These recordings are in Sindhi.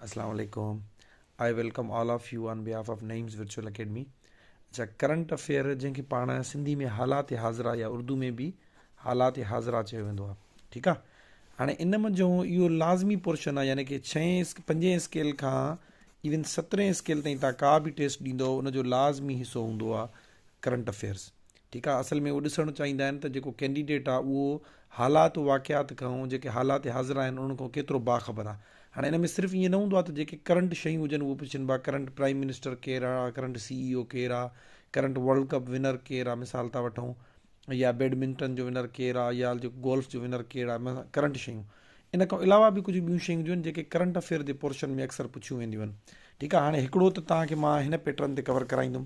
اسلام عليڪم I welcome all of you on behalf of Naeem's virtual academy اچا ڪرنٽ افيئر جنهن کي پاڻ سنڌي ۾ حالات حاضرا يا اردو ۾ به حالات حاضرا چيو ويندو آهي ٺيڪ آهي هاڻي ان منجهو اهو لازمي پورشن آهي يعني ڪي ڇهين پنجين اسڪيل کان ایون سترين اسڪيل تائين تان ڪا به ٽيسٽ ڏيندو ان جو لازمي حصو هوندو آهي ڪرنٽ افيئرس ٺيڪ آهي اصل ۾ اهو ڏسڻ چاهيندا آهن ته جيڪو ڪينڊيڊيٽ آهي اهو حالات و واقعات کانئون جيڪي حالات حاضر آهن انهن کانئون ڪيترو باخبر آهي هاڻي ان ۾ صرف ائين نه هوندو آهي ته جيڪي ڪرنٽ شيون هجن اهو پڇن ڀا ڪرنٽ پرائيم منسٽر ڪير آهي ڪرنٽ سي اي او ڪير آهي ڪرنٽ ورلڊ ڪپ ونر ڪير آهي مثال ٿا وٺون يا بيڊمنٽن جو ونر ڪير آهي يا جيڪو گولف جو ونر ڪير آهي ڪرنٽ شيون ان کان علاوه به ڪجهه ٻيون شيون جون جيڪي ڪرنٽ افيئر جي پورشن ۾ اڪثر پڇيون وينديون آهن ٺيڪ آهي هاڻي هڪڙو ته توهان کي مان هن پيٽرن تي ڪور ڪرائيندم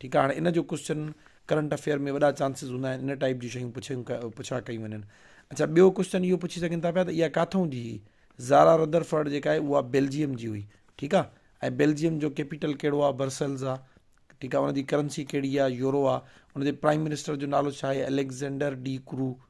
ٺيڪ آهي هاڻي ان جو ڪوسچن ڪرنٽ افيئر ۾ وڏا چانسز هوندا آهن ان ٽائيپ جون شيون پڇيون پڇا ڪيون وڃن اڇا ٻيو ڪوسچن اهو پڇي سگهن ٿا پيا ته اها ڪاٿون جي هئي زارا ردر فرڊ جيڪا آهي اها بيلجيم جي هئي ٺيڪ آهي ۽ بيلجيم جو ڪيپيٽل کيڙو آهي برسلز آهي ٺيڪ آهي ان جي ڪرنسي کيڙي آهي يورو آهي ان جي پرائم منسٽر جو نالو ڇا آهي اليگزينڊر ڊي ڪرو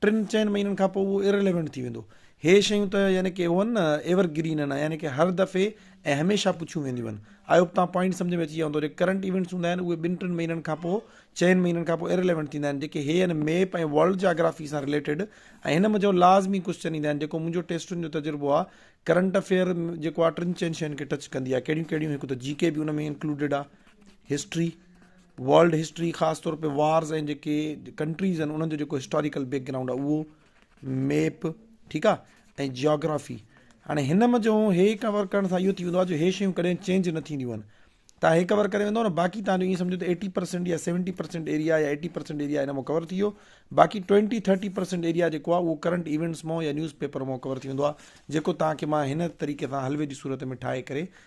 ٽن چئن مهينن کان پوء اهو Irrelevant ٿي ويندو. هي شيون ته يعني ڪي هون نه ايور گرين هن يعني ڪي هر دفعي ۽ هميشه پڇيون وينديون هن. آئي هوپ توهان پوائنٽ سمجهه ۾ اچي ويا هوندو. جيڪي ڪرنٽ ايونٽس هوندا آهن اهي ٻن ٽن مهينن کان پوء چئن مهينن کان پوء Irrelevant ٿيندا آهن جيڪي هي هن ميپ ۽ ورلڊ جاگرافي سان رليٽيڊ ۽ هن منجهه لازمي ڪوسچن ايندا آهن جيڪو منهنجو ٽيسٽن جو تجربو آهي ڪرنٽ افيئر جيڪو آهي ٽن چئن شين کي ٽچ ڪندي آهي ڪهڙيون ڪهڙيون هڪ ته جي ڪي به ان ۾ انڪلوڊيڊ آهي هسٽري ورلڊ هسٽري خاص طور تي وارز ۽ جيڪي ڪنٽريز آهن انهن جو جيڪو هسٽاريڪل بيڪ گرائونڊ آهي اهو ميپ ٺيڪ آ ۽ جيوگرافي هاڻي هن م جو هي ڪور ڪرڻ سان اهو ٿي ويندو آ جو هي شيون ڪڏهن چينج نه ٿينديون آهن تان هي ڪور ڪري ويندو نه باقي تان جو ائين سمجهو ته ايٽي پرسينٽ يا سيونٽي پرسينٽ ايريا يا ايٽي پرسينٽ ايريا هن م ڪور ٿي ويو باقي ٽوينٽي ٿرٽي پرسينٽ ايريا جيڪو آ اهو ڪرنٽ ايونٽس م يا نيوز پيپر م ڪور ٿي ويندو آ جيڪو تان کي مان هن طريقي سان حلوي جي صورت ۾ ٺاهي ڪري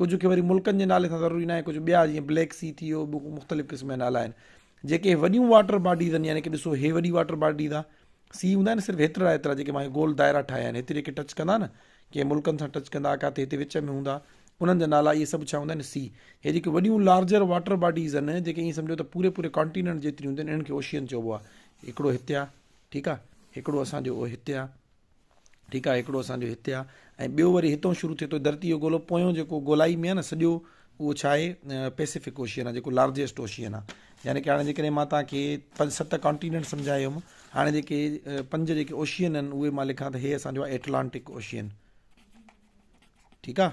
ڪجهه کي وري ملڪن جي نالي سان ضروري ناهي ڪجهه ٻيا جيئن بليڪ سي ٿي ويو ٻيو مختلف قسم جا نالا آهن جيڪي وڏيون واٽر باڊيز آهن يعني ڪي ڏسو هي وڏي واٽر باڊيز آ سی هوندا آهن صرف هيترا هيترا جيڪي ماهي گول دائرا ٺاهيا آهن هتري کي ٽچ ڪندا نه ڪي ملڪن سان ٽچ ڪندا ڪاٿي هتي وچ ۾ هوندا انهن جا نالا اي سڀ ڇا هوندا آهن سی هي جيڪي وڏيون لارجر واٽر باڊيز آهن جيڪي ائين سمجھو ته پوري پوري ڪانٽيننٽ جيتريون هونديون آهن انهن کي اوشين چئبو آهي هڪڙو هتي آ ٺيڪ آ هڪڙو اسان جو هتي آ ٺيڪ آهي هڪڙو اسان جو هتي آهي ۽ ٻيو وري هتئون شروع ٿئي ٿو ڌرتي جو گولو پويون جيڪو گولائي ۾ آهي نه سڄو اهو ڇا آهي پيسفڪ اوشين آهي جيڪو لارجيسٽ اوشين آهي يعني ڪي هاڻي جيڪڏهن مان تان کي پنج ست ڪانٽيننٽ سمجهايو هيم هاڻي جيڪي پنج جيڪي اوشين آهن اهي مان لکان ته هي اسان جو ايٽلانٽڪ اوشين ٺيڪ آهي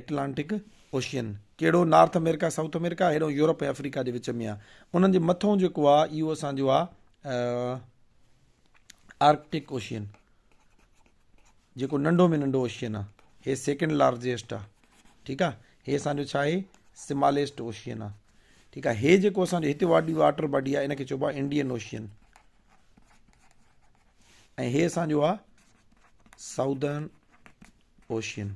ايٽلانٽڪ اوشين ڪهڙو نارٿ امريڪا ساؤٿ امريڪا هيڏو يورپ ۽ افريقا جي وچ ۾ آهي انهن جي مٿو جيڪو آهي اهو اسان جو آهي آرڪٽڪ اوشين جيڪو ننڍو ۾ ننڍو اوشين آ هي سيڪنڊ لارجيسٽ آ ٺيڪ آ هي اسانجو ڇا آهي سماليسٽ اوشين آ ٺيڪ آ هي جيڪو اسانجو هتي واٽي واٽر باڊي آ انکي چئبو آ انڊين اوشين ۽ هي اسانجو آ سائوڌرن اوشين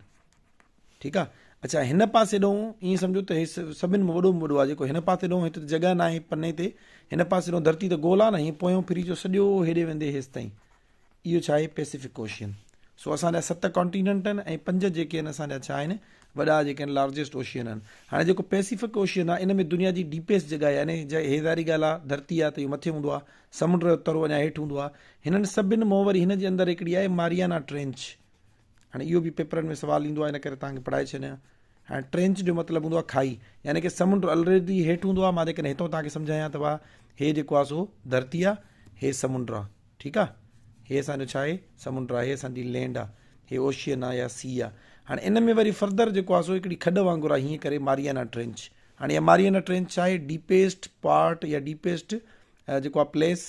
ٺيڪ آ اچا هن پاسي ڏون ايئن سمجھو ته هي سڀن ۾ وڏو وڏو آ جيڪو هن پاسي ڏون هت جڳهه ناهي پني تي هن پاسي ڏون ڌرتي ته گول آ نه هي پويون ڦري جو سڄو هيڏي ويندي هيس تائين اهو ڇا آهي پيسيفڪ اوشين سو اسان جا ست ڪانٽيننٽ آهن ۽ پنج جيڪي آهن اسان جا ڇا آهن وڏا جيڪي آهن لارجسٽ اوشين آهن هاڻي جيڪو پيسيفڪ اوشين آهي ان ۾ دنيا جي ڊيپيسٽ جڳهه آهي يعني جي هي ظاهري ڳالهه آهي ڌرتي آهي ته اهو مٿي هوندو آهي سمنڊ جو ترو اڃا هيٺ هوندو آهي هنن سڀن مون وري هن جي اندر هڪڙي آهي ماريانا ٽرينچ هاڻي اهو به پيپرن ۾ سوال ايندو آهي ان ڪري توهان کي پڙهائي ڇڏيان هاڻي ٽرينچ جو مطلب هوندو آهي کائي يعني که سمنڊ الريڊي هيٺ هوندو آهي مان جيڪڏهن هتو توهان کي سمجهايان ته واهه هي جيڪو آهي سو ڌرتي آهي هي سمنڊ آهي ٺيڪ آهي هي اسان جو ڇا آهي سمنڊ آهي هي اسان جي لينڊ آهي هي اوشين آهي يا سي آهي هاڻي ان ۾ وري فرڌر جيڪو آهي سو هڪڙي کڏ وانگر آهي هيئن ڪري ماريانا ٽرينچ هاڻي ماريانا ٽرينچ ڇا آهي ڊيپيسٽ پارٽ يا ڊيپيسٽ جيڪو آهي پليس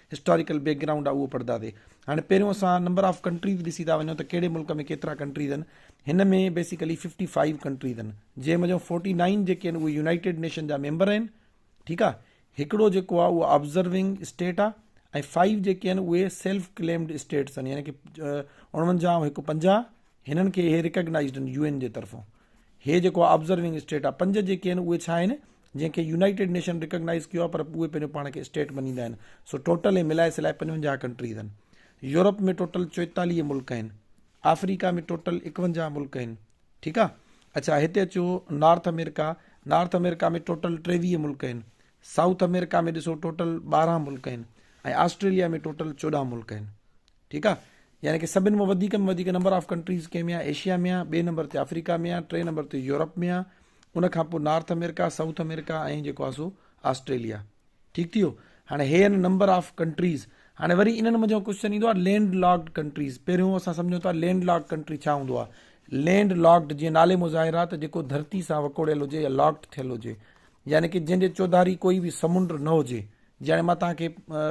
هسٽاريڪل بيڪ گرائونڊ آ اهو پڙهداسي هاڻي پهريون اسان نمبر آف ڪنٽريز ڏسي ٿا وڃون ته ڪهڙي ملڪ ۾ ڪيترا ڪنٽريز آهن هن ۾ بيسيڪلي ففٽي فائيو ڪنٽريز آهن جنهن ۾ جو فورٽي نائن جيڪي آهن اهي يونائيٽيڊ نيشن جا ميمبر آهن ٺيڪ آ هڪڙو جيڪو آ اهو آبزرونگ اسٽيٽ آ ۽ فائيو جيڪي آهن اهي سيلف ڪليمڊ اسٽيٽس آهن يعني ڪي اڻونجاهه ۽ هڪ پنجاهه هنن کي اهي ريڪگنائزڊ آهن يو اين جي طرفون هي جيڪو آبزرونگ اسٽيٽ آ پنج جيڪي آهن اهي ڇا آهن جنهن کي يونائيٽيڊ نيشن ريڪگنائز ڪيو آ پر اهي پنهنجو پاڻ کي اسٽيٽ مڃيندا آهن سو ٽوٽل هي ملائي سلائي پنجونجاهه ڪنٽريز آهن يورپ ۾ ٽوٽل چوئيتاليهه ملڪ آهن آفريڪا ۾ ٽوٽل اڪونجاهه ملڪ آهن ٺيڪ آ اڇا هتي اچو North America North America ۾ total ٽيويهه ملڪ آهن سائوٿ امريڪا ۾ ڏسو ٽوٽل ٻارهن ملڪ آهن ۽ آسٽريليا ۾ ٽوٽل چوڏهن ملڪ آهن ٺيڪ آ يعني ڪي سڀن مان وڌيڪ ۾ وڌيڪ نمبر آف ڪنٽريز ڪنهن ۾ آ ايشيا ۾ آ ٻئي نمبر تي آفريڪا ۾ آ ٽئين نمبر تي يورپ ۾ آ ان کان پوء نارٿ امريڪا سائوٿ امريڪا ۽ جيڪو آ سو آسٽريليا ٺيڪ ٿي ويو هاڻي هي ان نمبر آف ڪنٽريز هاڻي وري انهن منجهان ڪوشچن ايندو آ لينڊ لاڪڊ ڪنٽريز پهريون اسان سمجهون ٿا لينڊ لاڪ ڪنٽري ڇا هوندو آ لينڊ لاڪڊ جيئن نالي مظاهر آ ته جيڪو ڌرتي سان وڪوڙيل هجي يا لاڪڊ ٿيل هجي يعني ڪه جنهن جي چوڌاري ڪوئي به سمنڊ نه هجي جياڻي مان توهان کي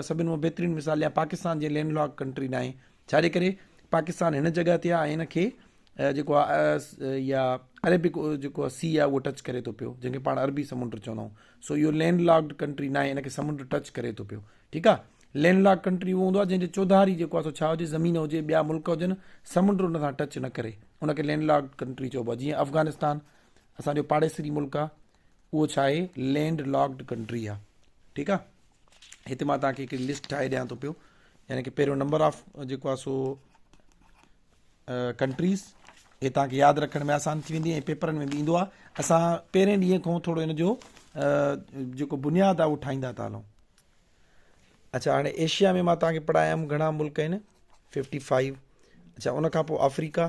سڀن مان بهترين مثال ڏيان پاڪستان جي لينڊ لاڪ ڪنٽري ناهي ڇا جي ڪري پاڪستان هن جڳهه تي آهي هن کي جيڪو آهي يا عربڪ جيڪو آهي سي آهي اهو ٽچ ڪري ٿو پيو جنهن کي پاڻ عربي سمنڊ چوندا آهيون سو اهو لينڊ لاڪ ڪنٽري ناهي هن کي سمنڈ ٽچ ڪري ٿو پيو ٺيڪ آهي لينڊ لاڪ ڪنٽري اهو هوندو آهي جنهن جي چوڌاري جيڪو آهي سو ڇا هجي زمين هجي ٻيا ملڪ هجن سمنڈ ان سان ٽچ نه ڪري ان کي لينڊ لاڪ ڪنٽري چئبو آهي جيئن افغانستان اسانجو پاڙيسري ملڪ آهي اهو ڇا آهي لينڊ لاڪڊ ڪنٽري آ ٺيڪ آ هتي مان تان کي هڪڙي لسٽ ٺاهي ڏيان ٿو پيو يعني ڪي پهريون نمبر آف جيڪو آ سو ڪنٽريز هي تان کي ياد رکڻ ۾ آسان ٿي ويندي پيپرن ۾ به ايندو آ اسان پهرين ڏينهن کان ٿورو ان جو جيڪو بنياد آ اهو ٺاهيندا ٿا هلون اچھا هاڻي ايشيا ۾ مان تان کي پڙهايم گهڻا ملڪ آهن 55 اچھا ان کان پوء آفريڪا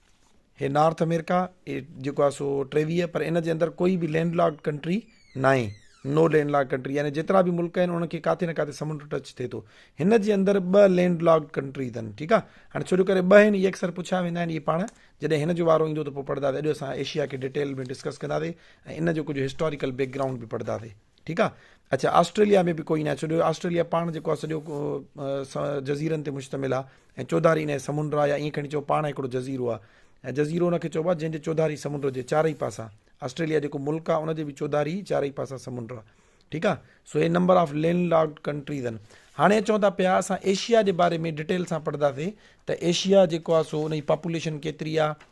هي نارٿ امريڪا جيڪو آهي سو ٽيويهه پر ان جي اندر ڪوئي به لينڊ لاڪ ڪنٽري ناهي نو لينڊ لاڪ ڪنٽري يعني جيترا به ملڪ آهن انهن کي ڪاٿي نه ڪاٿي سمنڊ ٽچ ٿئي ٿو هن جي اندر ٻه لينڊ لاڪ ڪنٽري اٿن ٺيڪ آهي هاڻي ڇو جو ڪري ٻه آهن اي اڪثر پڇيا ويندا آهن اي پاڻ جڏهن هن جو وارو ايندو ته پوء پڙهنداسي اڄ اسان ايشيا کي ڊيٽيل ۾ ڊسڪس ڪنداسي ۽ ان جو ڪجهه هسٽاريڪل بيڪ گرائونڊ به پڙهنداسي ٺيڪ آ اڇا آسٽريليا ۾ به ڪوئي نه آهي ڇو جو آسٽريليا پاڻ جيڪو آهي سڄو جزيرن تي مشتمل آهي ۽ چوڌاري ان جي سمنڊ آهي يا ائين کڻي چئو پاڻ هڪڙو جزيرو آهي ۽ جزيرو ان کي چئبو آهي جنهن جي چوڌاري سمنڊ جي چارئي پاسا آسٽريليا جيڪو ملڪ آهي ان جي به چوڌاري چارئي پاسا سمنڈ آهي ٺيڪ آهي سو هي number of land lock countries آهن هاڻي اچون ٿا پيا اسان ايشيا جي باري ۾ ڊيٽيل سان پڙهنداسي ته ايشيا جيڪو آهي سو ان جي پاپوليشن ڪيتري آهي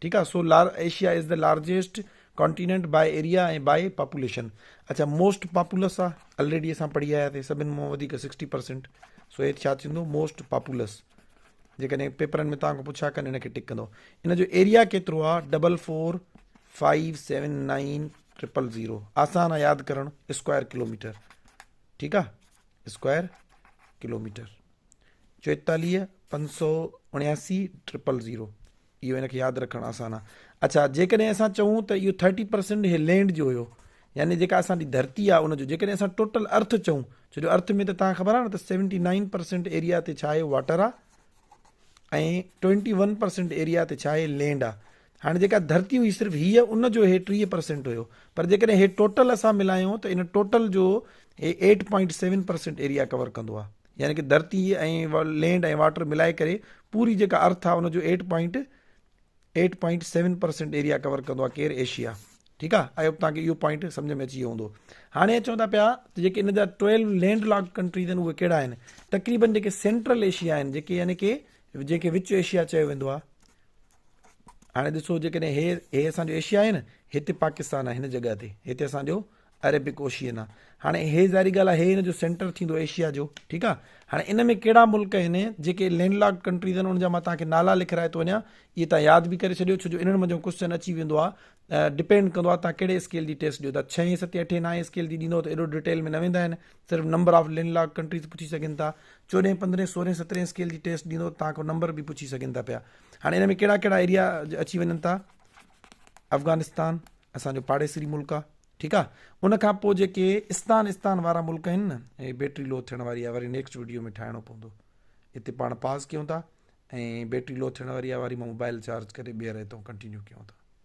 ٺيڪ آ سو لار Asia is the largest continent by area ۽ by population اچا موسٽ پاپولس آ الريڊي اسان پڙهي آيا ٿي سڀن مون وڌيڪ سڪسٽي پرسنٽ سو هيت ڇا ٿيندو موسٽ پاپولس جيڪڏهن پيپرن ۾ تان کان پڇا ڪن هن کي ٽڪ ڪندو ان جو ايريا ڪيترو آ double four five seven nine triple zero آسان آ ياد ڪرڻ اسڪوائر ڪلوميٽر ٺيڪ آ اسڪوائر ڪلوميٽر چويتاليهه پنج سو اڻياسي ٽرپل زيرو اهو ان کي ياد رکڻ آسان آ. اڇا جيڪڏهن اسان چئون ته اهو ٿرٽي پرسينٽ هي لينڊ جو هيو يعني جيڪا اسان جي ڌرتي آ ان جو جيڪڏهن اسان ٽوٽل ارٿ چئون ڇو جو ارٿ ۾ ته تهان خبر آ نه ته سيونٽي نائين پرسينٽ ايريا تي ڇا آهي واٽر آ ۽ ٽوئنٽي ون پرسينٽ ايريا تي ڇا آهي لينڊ آ هاڻي جيڪا ڌرتي هئي صرف هيء ان جو هي ٽيهه پرسينٽ هيو پر جيڪڏهن هي ٽوٽل اسان ملايون ته ان ٽوٽل جو هي eight point seven percent area cover ڪندو آ يعني ڪه ڌرتي ۽ لينڊ ۽ واٽر ملائي ڪري پوري جيڪا ارٿ آ ان جو eight point eight point seven percent area cover ڪندو آ ڪير ايشيا ٺيڪ آ آئي هوپ توهان کي اهو پوائنٽ سمجھ ۾ اچي ويو هوندو هاڻي اچون ٿا پيا ته جيڪي ان جا ٽويلو لينڊ لاڪ ڪنٽريز آهن اهي ڪهڙا آهن تقريبن جيڪي سينٽرل ايشيا آهن جيڪي يعني ڪي جيڪي وچ ايشيا چيو ويندو آ هاڻي ڏسو جيڪڏهن هي هي اسان جو ايشيا آهي نه هتي پاڪستان آهي هن جڳهه تي هتي اسان جو عربڪ اوشيئنا هاڻي هي ظاهري ڳالهه آهي هي ان جو سينٽر ٿيندو ايشيا جو ٺيڪ آ هاڻي ان ۾ ڪهڙا ملڪ آهن جيڪي لينڊ لاڪ ڪنٽريز آهن ان جا مان توهان کي نالا لکرائي ٿو وڃان اهي توهان ياد به ڪري ڇڏيو ڇو جو انهن منجهو ڪوشچن اچي ويندو آهي ڊپينڊ ڪندو آهي توهان ڪهڙي اسڪيل جي ٽيسٽ ڏيو ٿا ڇهين ستين اٺين نائين اسڪيل جي ڏيندو ته ايڏو ڊيٽيل ۾ نه ويندا آهن صرف number of land lock countries پڇي سگهن ٿا چوڏهين پندرهين سورهين سترهين اسڪيل جي ٽيسٽ ڏيندو توهان کان نمبر به پڇي سگهن ٿا پيا هاڻي ان ۾ ڪهڙا ڪهڙا ايريا اچي وڃن ٿا افغانستان اسان جو پاڙيسري ملڪ آ ٺيڪ آ ان کان پو جيڪي استان استان وارا ملڪ آهن نه اي بيٽري لو ٿيڻ واري آ وري نيڪسٽ ويڊيو ۾ ٺاهڻو پوندو اتي پاڻ پاز ڪيون ٿا ۽ بيٽري لو ٿيڻ واري آ وري مان موبائل چارج ڪري ٻيهر اتو ڪنٽينيو ڪيون ٿا